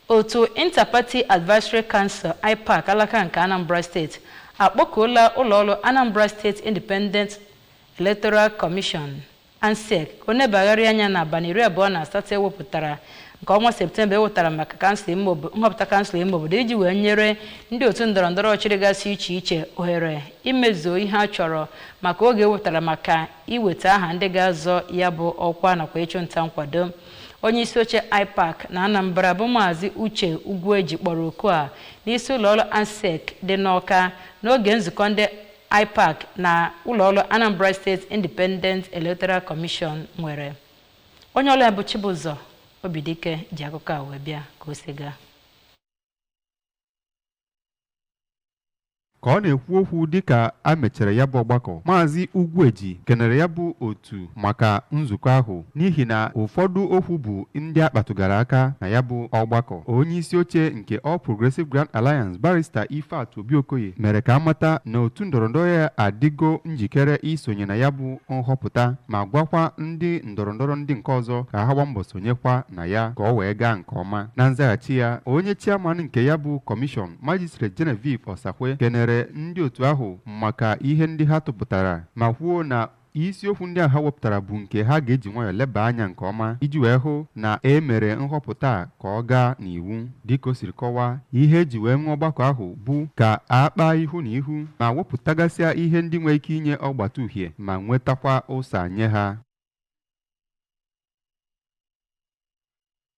Otu Inter-Party Advisory Council, IPAC, alaka nke Anambra Steeti akpọkuola ụlọọrụ Anambra State Independent Electoral Commission, ANSEC, ka o nebagharịa anya n'abalị iri abụọ na asatọ e wepụtara nke ọnwa Septemba e wetara maka kansụl ime obo- nhọpụta kansụl ime obodo iji wee nyere ndị otu ndọrọndọrọ ọchịchị gasị iche iche ohere imezuo ihe a chọrọ maka oge e wepụtara maka iweta aha ndị ga-azọ ya bụ ọkwa nakwa ịchụ nta nkwado onye isi oche IPAC na Anambra bụ Maazị Uche Ugwueji kpọrọ oku a n'isi ụlọọrụ ANSEC dị n'Ọka n'oge nzukọ ndị IPAC na ụlọọrụ Anambra State Independent Electoral Commission nwere onye ọrụ anyị bụ Chibụzọ Obidike ji akụkọ a wee bịa ka o si gaa ka ọ na-ekwu okwu dịka a mechara ya bụ ọgbakọ maazị Ugwueji kenere ya bụ otu maka nzukọ ahụ n'ihi na ụfọdụ okwu bụ ndị a kpatụgara aka na ya bụ ọgbakọ onye isi oche nke All Progressive Grand Alliance barista Ifeatu Obi Okoye mere ka a mata na otu ndọrọndọrọ ya adịgo njikere isonye na ya bụ nhọpụta ma gwakwa ndị ndọrọndọrọ ndị nke ọzọ ka ha gbaa mbọ sonyekwa na ya ka ọ wee gaa nke nke ọma na nzaghachi ya onye chiaman nke ya bụ kọmishọn Magistrate Genevieve Osakwe kenere ndị otu ahụ maka ihe ndị ha tụpụtara ma kwuo na isiokwu ndị a ha wepụtara bụ nke ha ga-eji nwayọọ leba anya nke ọma iji wee hụ na e mere nhọpụta a ka ọ gaa n'iwu dịka o siri kọwaa ihe e ji wee nwee ọgbakọ ahụ bụ ka a kpaa ihu na ihu ma wepụtagasịa ihe ndị nwere ike inye ọgbata uhie ma nwetakwa ụsa nye ha